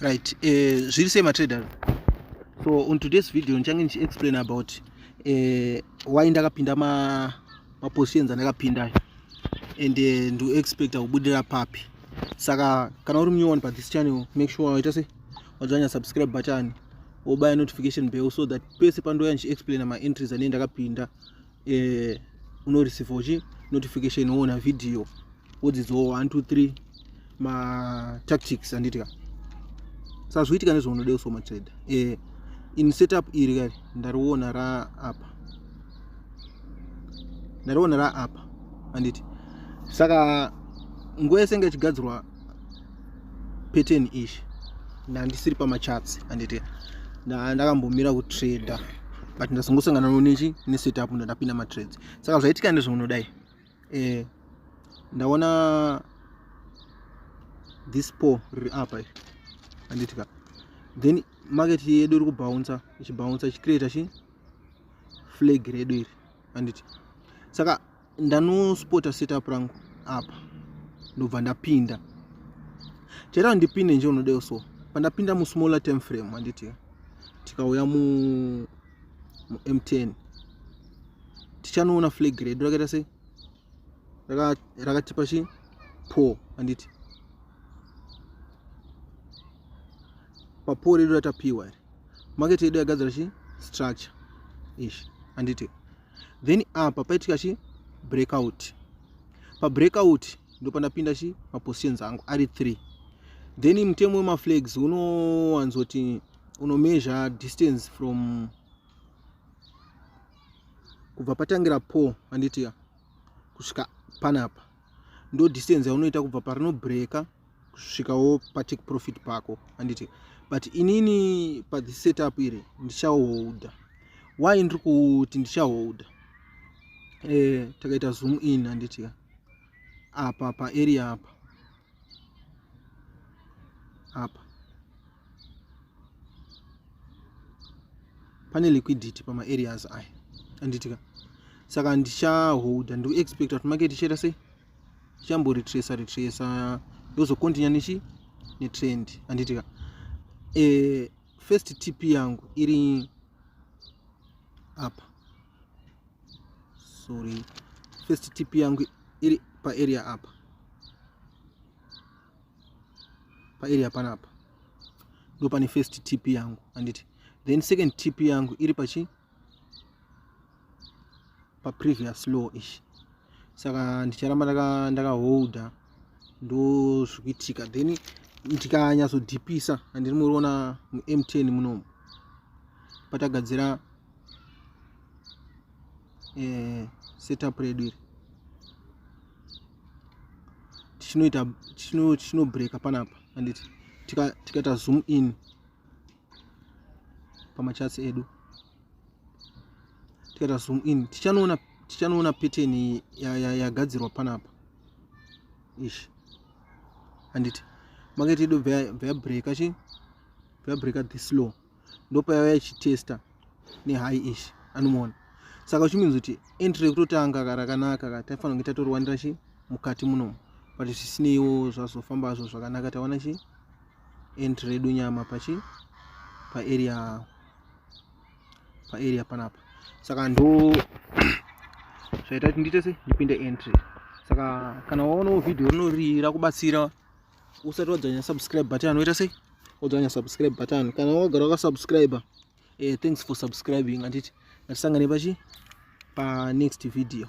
right eh, zviri sei matrader so on today's video ndichange ndichiexplain about eh, why ndakapinda mapositions ma andakapinda ayo and eh, ndoexpecta kubudirira papi saka kana uri munyowani pa this channel make sure waita se wadzanya subscribe button wobaya notification bell so that pese pandouya ndichiexplaina maentries anei ndakapinda eh, unoreceive uchi notification woona video wodzidziwo 1 2 3 matactics anditika sazviitika nezvaunoda usoma trader eh, in setup iri kari ndariona raapa ndariona raapa anditi saka nguva yese inge ichigadzirwa pattern ish ndandisiri pamachats anditi ndakambomira kutrader but ndazongosangana nonechi nesetup ndandapinda matrades saka zvaitika ndezvaunodai eh, ndaona this po riri apa iri anditika then market yedu iri kubouncer ichibouncer ichicreata chi flag redu iri anditi saka ndanospota setup rangu apa ndobva ndapinda chero ndipinde nje unodewo so pandapinda musmaller time frame handiti tikauya mu m10 tichanoona flag redu rakaita sei rakatipa chi po handiti papo redu ratapiwa iri market yedu yagadzira chi structure ishi handiti then apa paitika chi breakout pa breakout ndo pandapinda chi mapositions angu ari 3 then mutemo wemaflags unowanzoti unomeasure distance from kubva patangira po anditia kusvika panapa ndo distance yaunoita kubva parino breaker kusvikawo patake profit pako handiti but inini pathe setup iri ndichaholda why ndiri kuti ndichaholda eh, takaita zoom in handiti apa paarea apa apa pane liquidity pamaareas aya anditika saka ndichaholda ndikuexpecta kuti market ichaita sei ichamboretresa retresa yozocontinya nechi netrend anditika e, eh, first tip yangu iri apa sorry first tip yangu iri paarea apa pa area panapa ndo pane first tip yangu anditi then second tip yangu iri pachi pa previous law ishi saka ndicharamba ndakaholda ndaka ndozvikuitika then ndikanyatsodhipisa handiri muriona mumtn munomu patagadzira eh, setup redu iri tichinoita tichinobreka panapa anditi tikaita tika zoom in pamachats edu tikaita zoom in tichanoona tichanoona pattern yagadzirwa ya, ya panapa ish anditi makaita ido vabreaka chi vabreaka this law ndopayava yachitesta nehigh ish anomuona saka uchimins kuti entry kutotanga karakanaka ka taifanira kunge tatorwanira chi mukati munomu but zvisineiwo zvazofamba zvo zvakanaka tawana chi entry redu nyama pachi paarea paarea panapa saka ndo zvaita kuti ndiite se ndipinde entry saka kana waonawo vhidhiyo rinori rakubatsira usati wadzanya subscribe button anoita sei odzanya subscribe button kana wagara wakasubscribe eh, thanks for subscribing handiti ngatisangane pachi panext video